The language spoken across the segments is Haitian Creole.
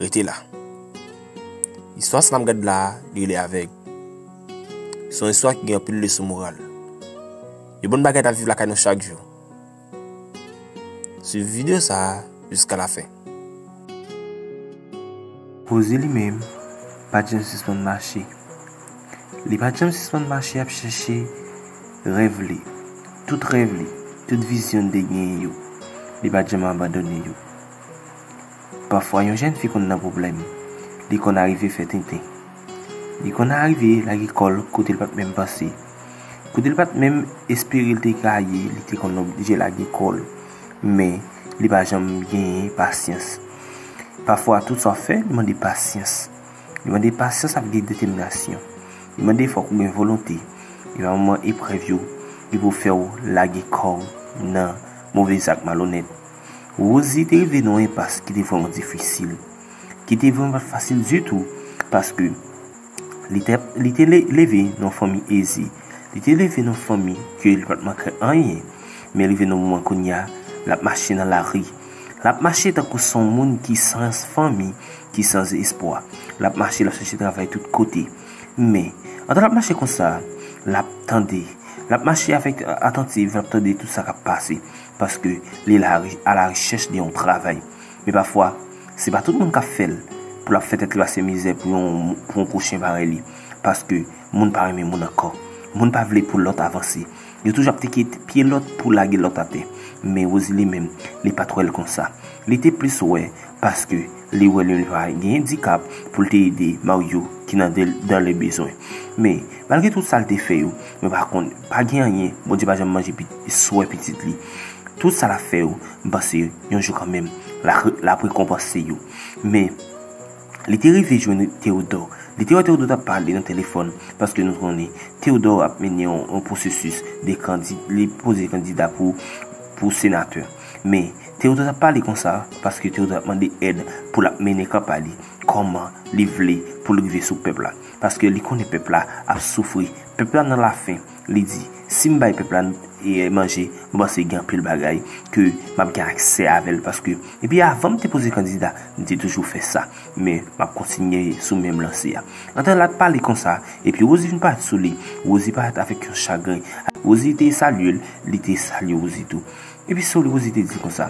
Rete la. Istwa sa m gad la a, li rele avèg. Se yon istwa ki gen anpil leson moral. Yon bon bagay ta viv lakay nou chak jou. Swiv videyo sa a jiska la fen. Rozi li menm, pa t janm sispann mache. Li pa t janm sispann mache ap chèche rèv li. Tout rèv li, tout vizyon li te genyen yo, li pa t janm abandone yo. Pafwa yon jèn fi konn nan pwoblèm, li konn arive fè tenten. Li konn arive lage kò l kote l pa t menm panse. Kote l pa t menm espere l te ka ye, li te konn oblije lage kò l. Men, li pa janm genyen pasyans. Pafwa, tout sa w ap fè, li mande pasyans. Li mande pasyans ak gen detèminasyon. Li mande fòk ou gen volonte. E pa moman eprèv yo, li pou fè w lage kò w nan move zak malonèt. Rosie te rive nan yon enpas ki te vrèman difisil, ki te vrèman pat fasil ditou, paske li te leve nan yon fanmi eze, li te leve nan yon fanmi ke li pat manke anyen, men rive nan yon moman kounye a, lap mache nan lari, lap mache tankou son moun ki san fanmi, ki san espwa, lap mache lap chache travay tout kote, men, pandan lap mache konsa, lap tande, lap mache avèk atantiv, lap tande tout sa kap pase. paske li a la rechèch de yon travay. Men pafwa, se pa tout moun k ap fè l pou l ap fè tèt li pase mizè pou yon gwo chen parèy li. Paske, moun pa renmen moun ankò. Moun pa vle pou lòt avanse. Yo toujou ap teke pye lòt pou lage lòt atè. Men Rosili menm, li pa t wè l konsa. Li te plis wè paske. Li wè Lelva gen endikap pou l te ede Maryo ki nan dan le bezwen. Men, malgre tout sa l te fè yo, mwen pa konn, pa gen anyen, Bondye pa janm manje swè pitit li. Tout sa l ap fè yo, m panse yon jou kanmenm, l ap rekonpanse yo. Men, li te rive jwenn Teyodò. Li te wè Teyodò t ap pale nan telefòn, paske nou konnen, Teyodò ap mennen yon pwosesis de kandida pou senatè. Men, Theodore ap pale konsa paske Theodore ap mande èd pou l ap mennen kanpay li kòman li vle pou l rive sou pèp la. Paske li konnen pèp la ap soufri, pèp la nan lafen. Li di, Si m bay pèp la manje, mwen panse gen anpil bagay ke m ap gen aksè avè l paske depi avan m te poze kandida, m te toujou fè sa. Men, m ap kontinye sou menm lanse a. Antan l ap pale konsa, epi Rosie vin parèt sou li. Rosie parèt avèk yon chagren. Rosie te salye l, li te salye Rosie tou. Epi Saul Rosie te di konsa,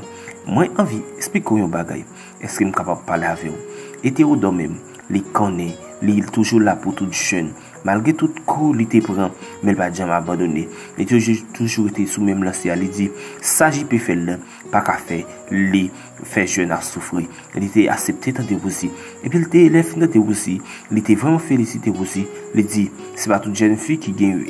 Mwen anvi esplike w yon bagay. Èske m kapab pale avè w? E Théodore menm, li konnen, li toujou la pou tout jèn. Malgre tout kou li te pran, men l pa t janm abandone. Li te toujou rete sou menm lanse a, li di, Sa JP fè l lan, pa ka fè li fè jèn ap soufri. Li te asepte tande Rosie. Epi l te, lè l fin tande Rosie, li te vrèman felisite Rosie, li di, Se pa tout jèn fi ki gen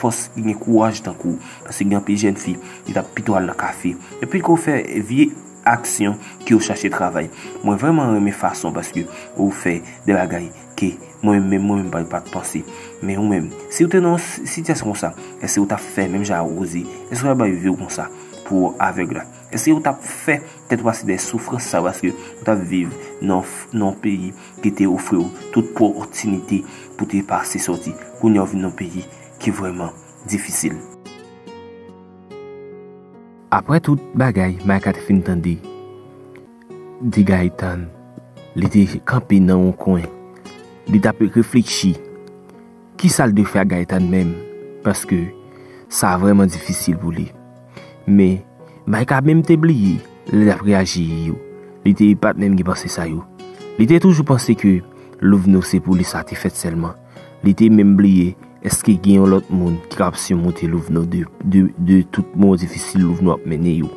fòs, ki gen kouraj tankou w. Paske gen anpil jèn fi, yo t ap pito al nan kafe. Yo piko fè vye aksyon ke yo chache travay. Mwen vrèman renmen fason paske ou fè de bagay ke mwen menm, mwen menm pa t panse. Men ou menm, si ou te nan yon sitiyasyon konsa, èske ou t ap fè menm jan a Rosie? Èske ou t ap bay vi ou konsa pou avèg la? Èske ou t ap fè tèt ou pase dèyè soufrans sa paske ou t ap viv nan yon peyi ki te ofri ou tout pòtinite pou te pase sòti? Kounye a ou vin nan yon peyi ki vrèman. difisil. Aprè tout bagay Micah te fin tande di Gaëtan, li te kanpe nan yon kwen. Li t ap reflechi kisa l dwe fè ak Gaëtan menm paske sa vrèman difisil pou li. Men, Micah menm te bliye lè l ap reyaji yo. Li te pa t menm gen panse sa yo. Li te toujou panse ke Louveno se pou li sa te fèt sèlman. Li te menm bliye èske gen yon lòt moun ki kab simonte louvno de tout moman difisil louvno ap mennen yo.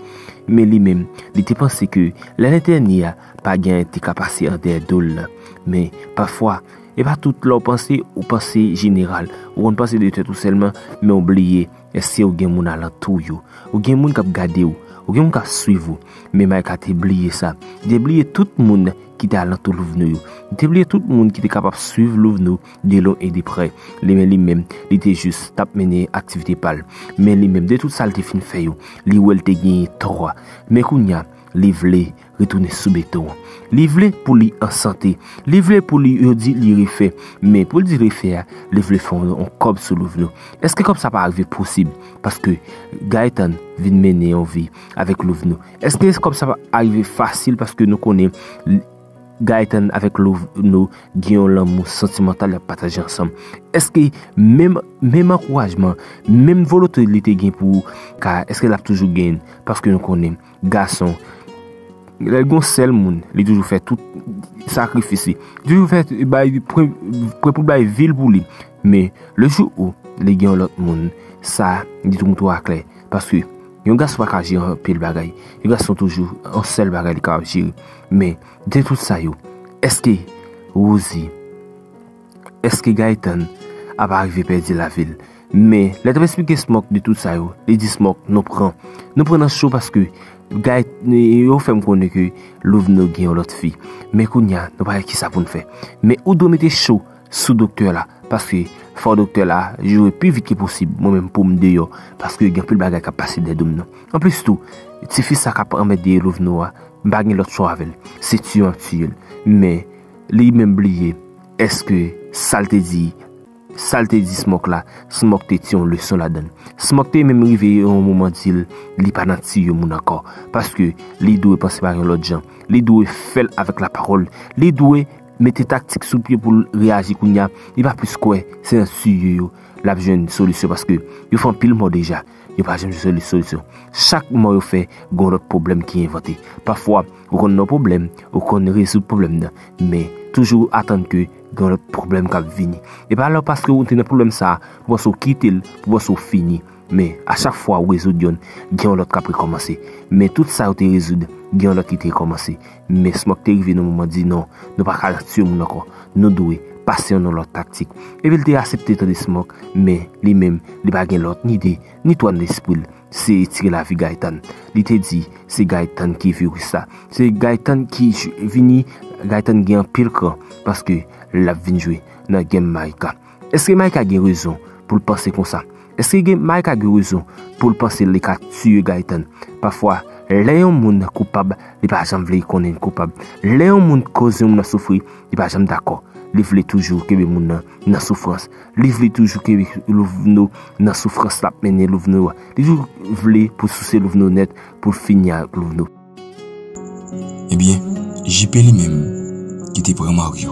Men li menm, li te panse ke lè lentèni a, pa gen anyen te ka pase an dèyè do l la. Men, pafwa, e pa tout lè w panse, ou panse jeneral. Ou konn panse de tèt ou sèlman, men w bliye. Èske ou gen moun alantou ou yo? Ou gen moun k ap gade ou? Ou gen moun k ap suiv ou? Men Mayka te bliye sa. Li te bliye tout moun ki te alantou Louveno yo. Li te bliye tout moun ki te kapab suiv Louveno de lwen e de prè. Li men li menm, li te jis t ap mennen aktivite pa l. Men li menm, de tout sa l te fin fè yo, li wè l te genyen tò a. Men kounye a, li vle. retounen sou beton an. Li vle pou li an sante. Li vle pou li yo di li refè. Men pou li di refè a, li vle fè yon kòb sou Louvno. Eske kòb sa pa rive posib? Paske Gaëtan vin mennen yon vi avèk Louvno. Eske kòb sa pa rive fasil paske nou konnen Gaëtan avèk Louvno gen yon lanmou santimantal yap pataje ansanm. Eske menm ankourajman, menm volote li te gen pou Kara, eske lap toujou genyen? Paske nou konnen. gason lèl gon sèl moun li toujou fè tout sakrifis li toujou fè bay prè pou bay vil pou li men le jou ou li gen yon lòt moun sa di tou moutou aklè paske yon gason pa ka jere anpil bagay yon gason toujou yon sèl bagay li ka jere men de tout sa yo eske wouzi Eske Gaëtan ap arive pèdi lavi l? Men, lè l t ap esplike Smoke de tout sa yo, li di Smoke, nou pran. Nou pran nan cho paske Gay, yo fè m konnen ke Louveno gen yon lòt fi. Men kounye a, nou pa gen kisa pou n fè. Men ou dwe mete cho sou doktè la paske fò doktè la joure pi vit ke posib mwen menm pou m deyò paske gen anpil bagay k ap pase dèyè do m nan. Anplis tou, tifi sa k ap anmède Louveno a, m pa gen lòt chwa avè l. Se tiye an tiye l. Men. Li menm bliye eske sal te di sal te di Smock la Smock te ti yon leson ladann Smock te menm rive yon moman dil li pa nan tiye moun ankò paske li dwe panse pa yon lòt jan li dwe fèl avèk la pawòl li dwe mete taktik sou pye poul reyaji kounya li pa plis kwè se nan tiye yo lap jwenn solisyon paske yo fè anpil mò deja. Yo pa janm jwenn yon solisyon. Chak mò yo fè, gen yon lòt pwoblèm ki envante. Pafwa, ou konn yon pwoblèm, ou konn rezoud pwoblèm nan, men, toujou ou atann ke gen yon lòt pwoblèm k ap vini. E pa lè ou paske ou te nan pwoblèm sa a, pou panse ou kite l, pou panse ou fini. Men, a chak fwa ou rezoud yonn, gen yon lòt k ap rekòmanse. Men, tout sa yo te rezoud, gen yon lòt ki te rekòmanse. Men Smoke te rive nan moman di non, nou pa ka tuye moun ankò, nou dwe pase yon lòt taktik. Epi l te asepte tande Smoke, men li menm li pa gen lòt ni de, ni twa nan lespri l, se etire lavi Gaëtan. Li te di, se Gaëtan ki viris la, se Gaëtan ki vini, Gaëtan gen anpil kran, paske l ap vin jwe nan game Mike la. Eske Micah gen rezon poul panse konsa? Eske gen Micah gen rezon poul panse li ka tiye Gaëtan? Pafwa lè yon moun koupab li pa janm vle konnen li koupab. Lè yon moun koz yon moun nan soufri li pa janm dakò. Li vle toujou kenbe moun nan nan soufrans. Li vle toujou kenbe Louveno nan soufrans lap mennen Louveno a. Li toujou vle pou souse Louveno nèt poul fini ak Louveno. Ebyen, JP li menm, ki te pran Mario,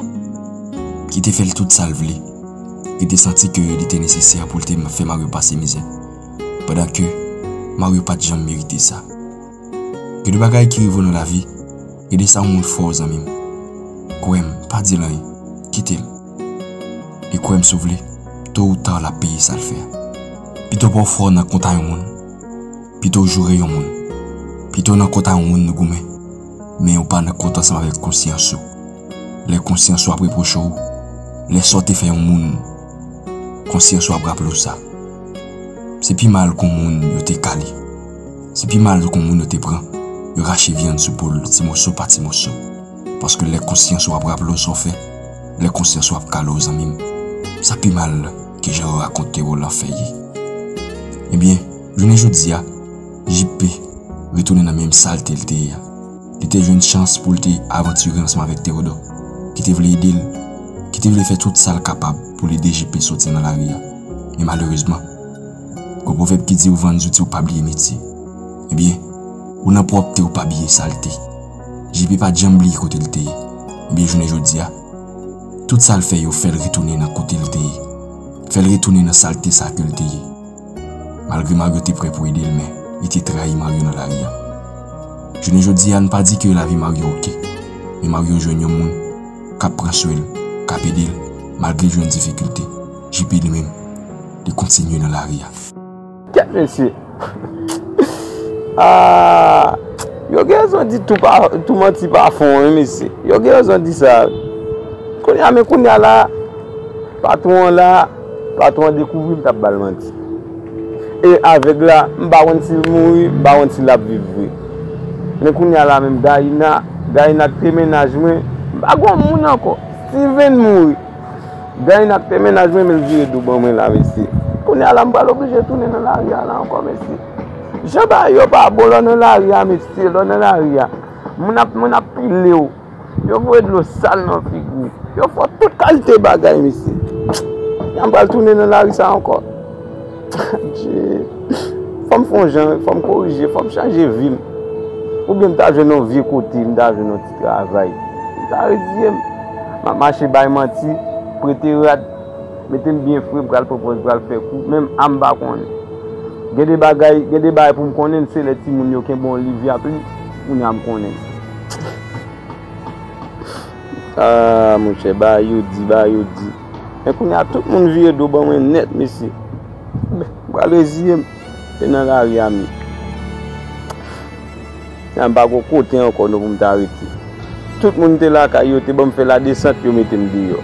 ki te fè l tout sa l vle, li te santi ke li te nesesè pou l te fè Mario pase mizè, pandan ke Mario pa t janm merite sa. Gen de bagay ki rive w nan lavi, gen de sa yon moun fè w zanmi m, kwè m, pa di l anyen, kite l. E kwè m si w vle, to ou ta l ap peye sa l fè a. Pito pa w fè w nan konta yon moun. Pito w joure yon moun. Pito nan kont a yon moun nou goumen, men ou pa nan kont ansanm avèk konsyans ou. Lè konsyans ou ap repwoche w, lè sa w te fè yon moun, konsyans ou ap raple w sa. Se pi mal kon moun yo te kale. Se pi mal kon moun yo te pran, yo rache vyann sou po l ti moso pa ti moso. Paske lè konsyans ou ap raple w sa w fè, lè konsyans ou ap kale w zanmi m, sa pi mal ke jan yo rakonte w lanfè ye. Ebyen. Jounen jodi a, JP retounen nan menm salte l te ye a. Li te jwenn chans pou l te avantire ansanm avèk Tewodò, ki te vle ede l, ki te vle fè tout sa l kapab pou l ede JP soti nan lari a. Men malerezman, gwo pwovèb ki di ou vann zouti ou pa bliye metye. Ebyen, ou nan pwòpte ou pa biye salte. JP pa t janm bliye kote l te ye. Ebyen jounen jodi a, tout sa l fè yo fè l retounen nan kote l te ye, fè l retounen nan salte sa ke l te ye. Malgre Mario te prè pou ede l men li te trayi Mario nan lari a. Jounen jodi a n pa di ke lavi Mario ok, men Mario jwenn yon moun k ap pran swen l, k ap ede l malgre l jwenn difikilte. JP li menm, li kontinye nan lari a. Kèt mesye! Aah! Yo gen rezon di tou pa, tou manti pa fon wi mesye. Yo gen rezon di sa wi. Kounye a men kounye a la, patwon an la. Patron an dekouvri m tap bal manti. E avèg la m pa konn sil mouri m pa konn si lap viv vre. Men kounya la menm Gaïna, Gaïna kite mennaj mwen m pa gon moun ankò. Steven mouri. Gaïna kite mennaj mwen menl vire do ban mwen la mesye. Kounya la m pral oblije tounen nan lari a la ankò mesye. Jan bagay yo pa bon lè w nan lari a mesye lè w nan lari a moun ap moun ap pilew. Yo voye dlo sal nan figi w. Yo fè w tout kalte bagay mesye. Eske m pral tounen nan lari sa ankò? Adje! Fò m fè yon jan, fò m korije, fò m chanje vi m. Oubyen m ta jwenn yon vye kote, m ta jwenn yon ti travay. M ta reziye m. M ap mache bay manti, prete rad, mete m byen fre, pral pran pòz, pral fè kou. Menm a m pa konnen. Gen de bagay, gen de bagay pou m konnen, se lè timoun yo kenbe yon liv y ap li. Kounya m konnen. Aah monchè Bayou di Bayou di Men kounya tout moun vire do ban mwen nèt mesye M pral reziye m e nan lari a me Kounya m pa gen kote ankò non pou m ta rete Tout moun te lakay yo te ban m fè ladesant yo mete m deyò.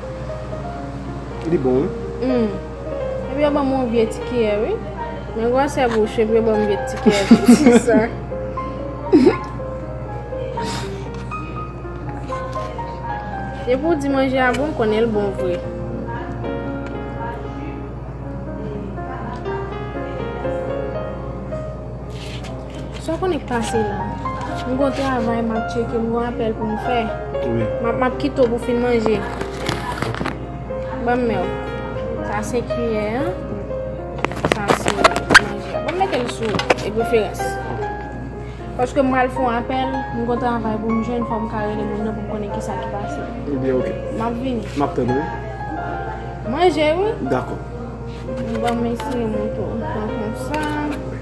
Li bon wi. Humm epi yo banm yon vye ti kiyè wi. Men gwosè bouch epi yo banm vye ti kiyè pou kisa. Depi ou di manje a bon konnen l bon vre. Sa konn k pase la. M gon travay map tcheke m gon apèl pou m fè. Map kite w pou fin manje. Banm men w. Sa se kiyè an. Sa se manje a. Banm mete l sou referans. Paske m pral fon apèl. M gon travay pou m jwenn fòm ka rele moun nan pou m konnen kisa ki pase. Ebyen ok. Map vini. Map tann w wi. Manje wi. Dakò. Banm eseye mwen tou. Mwen pran konsa.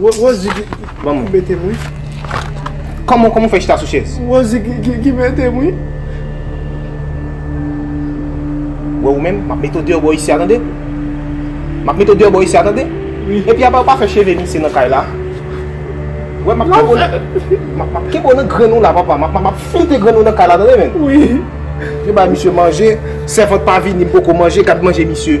Rosie ki metem wi. Kòman ou fè chita sou chèz? Rosie ki metem wi. Wè ou menm, map mete ou deyò bò isi a tande. Map mete ou deyò bò isi a tande. Epi apa ou pa fè cheve misye nan kay la? Wè map kebo nan Map kebo nan grenn ou la papa Map flite grenn ou nan kay la tande menm. Wi. Yo bay misye manje, sèvant pa vini m poko manje, gad manje misye.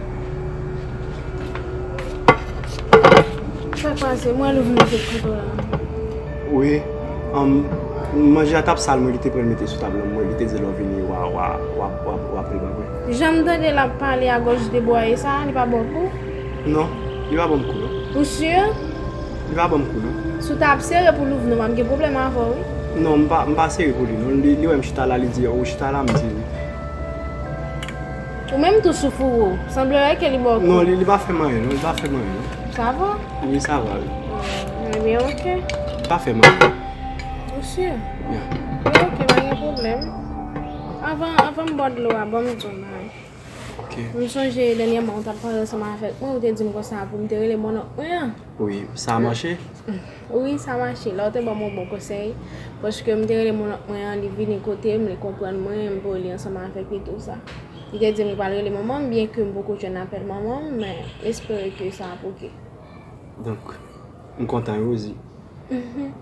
Sa k pase? Mwen wè w vin jwenn kouto la. Wi. Manje a t ap sal mwen kite pran l mete sou tab la. Mwen kite di lè w vini w a pran l apre. Jan m tande l ap pale agòch debwaye sa a, li pa ba w kou? Non. Li pa ban m kou non. Ou sur? Li pa ban m kou non. Si w ta ap sere pou Louvno m ap gen pwoblèm avè w wi. Non, m pa sere pou li non. Li wè m chita la li di ou chita la m di wi. Ou menm tou sou fouro. Sanble wè ke li ba w kou. Non, li pa fè m anyen non. Li pa fè m anyen non. Sa va? Wi, sa va wi. Ebyen ok. Li pa fè m anyen. Ou si? Ya. Ebyen ok, pa gen pwoblèm. Avan, avan m bwè dlo a, ban m di w bagay. Ok. M sonje dènyèman ou t ap pale ansanm avèk mwen, ou te di m konsa pou m te rele mònonk mwen an. Wi, sa mache? Wi, sa mache. La ou te banm yon bon konsèy. Paske m te rele moun ank mwen an, li vini kote m, li konprann mwen, m voye li ansanm avèk li tou sa. Li te di m li pral rele manman m, byen ke m poko jwenn apèl manman m, men m espere ke sa ap oke. Donk, m kontan Rosie.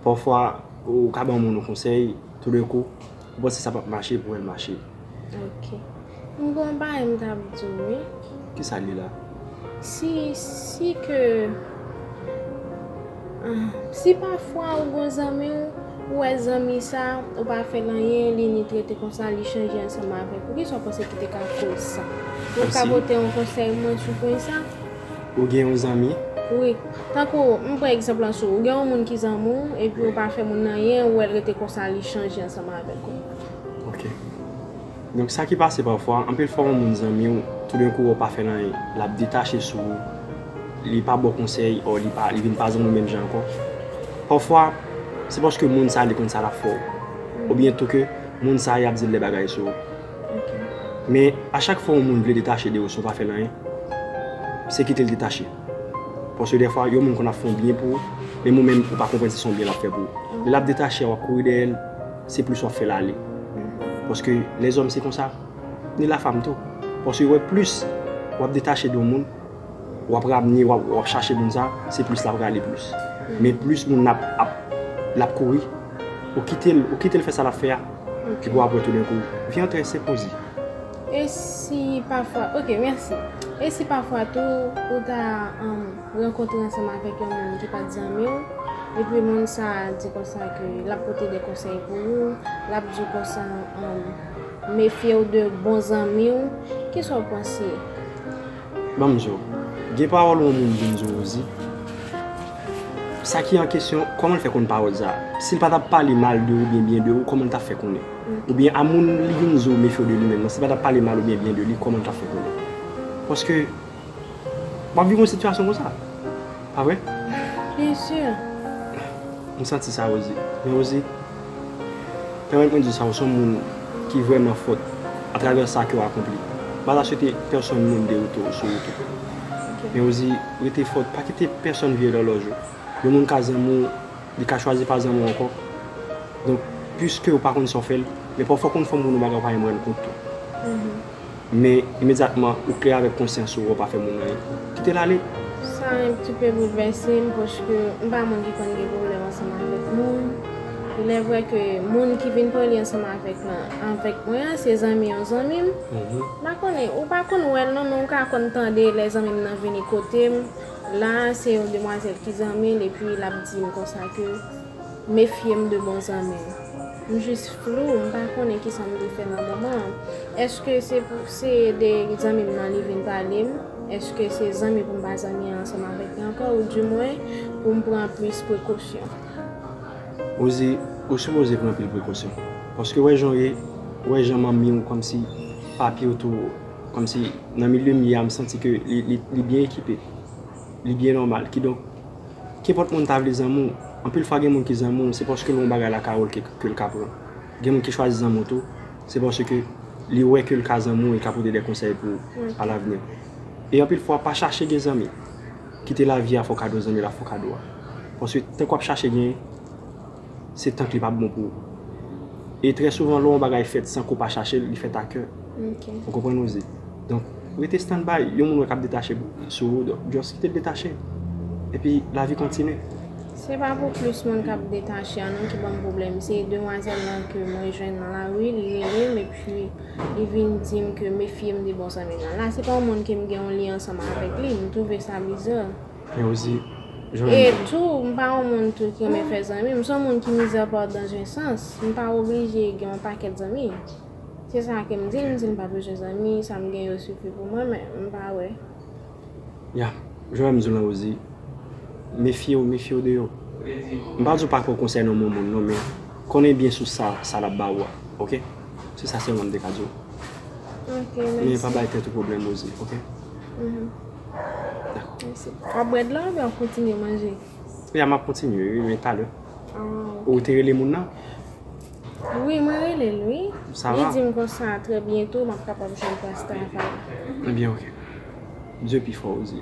Pafwa, ou ka ban moun yon konsèy, toudenkou, Ou panse sa pap mache pou el mache. Ok. M gen yon bagay m tap di w wi. Kisa l ye la? Si, si ke Ahh. Si pafwa ou gen yon zanmi w, ou wè zanmi sa, ou pa fè l anyen, li ni trete konsa, li chanje ansanm avèk ou. Kisa w panse ki te ka koz sa? Ou ka pote yon konsèy mwen sou pwen sa? Ou gen yon zanmi? Wi. Tankou, m pran egzanp lan sou ou. Ou gen yon moun ki zanmi ou, epi ou pa fè moun nan anyen, ou wè l rete konsa, li chanje ansanm avèk ou. Ok. Donk sa ki pase pafwa, anpil fwa yon moun zanmi ou, toudenkou wè ou pa fè l anyen, l ap detache sou ou, li pa ba w konsèy ò li pa, li vin pa zanmi w menm jan ankò. Pafwa, se paske moun sa li konn sa l ap fè w. Oubyen tou ke moun sa y ap di l de bagay sou ou. Men, a chak fwa yon moun vle detache de ou san w pa fè l anyen, se kite l detache. Paske dèfwa, yon moun konn ap fè yon byen pou ou, menm ou menm ou pa konprann si se yon byen l ap fè pou ou. Lè l ap detache a, w ap kouri dèyè l, se plis w ap fè l ale. Paske lèzòm se konsa, ni lafam tou. Paske yo wè plis w ap detache de yon moun, wap ramne wap chache moun sa se plis lap rale plis men plis moun nan ap lap kouri ou kitel ou kitel fè sa lap fè a epi aprè tou denkou vi an trè senp ou di e si pafwa ok mèsi e si pafwa tou ou ta rankontre ansanm avèk yon moun ki pat zanmiw epi moun sa di konsa ke lap pote de konsèy pou ou lap di konsa mefyew de bon zanmiw kisa ou panse. Banm di w, gen pawòl yon moun vin di w ou di, sa ki an kesyon, kòman l fè konn pawòl sa a? Si l pa t ap pale mal de ou oubyen byen de ou, kòman l t ap fè konnen? Oubyen a moun li vin di w mefye w de li menm nan, si l pa t ap pale mal oubyen byen de li, kòman l t ap fè konnen? Paske, w ap viv yon sitiyasyon konsa. Pa vre? Byen si. M santi sa Rosie. Men Rosie. Pèmèt mwen di sa, ou son moun ki vrèman fòt atravè sa kew akonpli. Mpa ta swete pèsonn moun dewoute ou sou wout ou. Men ou di, rete fòt, pa kite pèsonn vye lòlòj ou. Yon moun ka zanmi w, li ka chwazi pa zanmi w ankò. Donk, pwiskew pa konn sa w fè l, men pafwa konn fè moun yon bagay ou pa menm rann kont tou. Men, imedyatman, ou klè avèk konsyans ou wè w pa fè moun anyen. Kite l ale. Sa yon ti pe boulvèse m paske m pa moun ki konn gen pwoblèm ansanm avèk moun. Ilèvre ke moun ki vin pran li ansanm avèk lan, avèk mwen an, se zanmi yon zanmi m. M pa konnen, ou pa konn wè l non, men ou ka konn tande lè zanmi m nan vini kote m. La a, se yon demwazèl ki zanmi l epi l ap di m konsa ke. Mefye m de bon zanmi w. M jis flou, m pa konnen kisa m te fè nan moman an. Èske se pou se de zanmi m nan li vin pale m? Èske se zanmi pou m pa zanmi ansanm avèk li ankò ou di mwen pou m pran plis prekosyon? Ou di ou sipoze pran pil prekosyon. Paske wè jan w ye, wè jan manmi w kòmsi papi w tou kòmsi nan milye m ye a m santi ke li byen ekipe. Li byen nòmal. Kidonk. Kenpòt moun ta vle zanmi w, anpil fwa gen moun ki zanmi w se paske l wè yon bagay lakay w ke l ka pran. Gen moun ki chwazi zanmi w tou, se paske li wè ke l ka zanmi w e l ka pote de konsèy pou ou alavni. E anpil fwa pa chache gen zanmi, kite lavi a fè w kado zanmi la fè w kado a. Paske tank w ap chache gen. se tank li pa bon pou ou. E trè souvan lè yon bagay fèt san ke w pa chache l, li fèt a kè. Ou konprann Rosie? Donk, rete stand by. Yon moun wè k ap detache sou ou, donk just kite l detache. Epi lavi kontinye. Se pa pou plis moun k ap detache an non ki ban m pwoblèm. Se demwazèl lan ke mwen jwenn nan lari, li rele m epi li vin di m ke mefye m de bon zanmi l lan. La se pa yon moun ke m gen yon lyen ansanm avèk li. M twouve sa bizar. Men osi, jan. E tou, m pa yon moun tou ki renmen fè zanmi. M se yon moun ki mizèrpòt dan zen sans. M pa oblije gen yon pakèt zanmi. Se sa ke m di, m di m pa bezwen zanmi, sa m gen yo sifi pou mwen, men m pa wè. Ya, jan m di w lan osi, mefye w, mefye w de yo. M pa di w pa kwè w konsènan yon moun non, men konnen byen sou sa, sa l ap ba ou a, oke? Se sa sèlman m te ka di w. Ok, mèsi. Men pa bay tèt ou pwoblèm osi, oke? Wap bwè dlo oubyen wap kontinye manje? Ya map kontinye wi men talè. Ou te rele moun nan? Wi mwen rele l wi. Sa va? Li di m konsa trè byento map kapab jwenn plas travay. Ebyen ok. Bdye pi fò wi.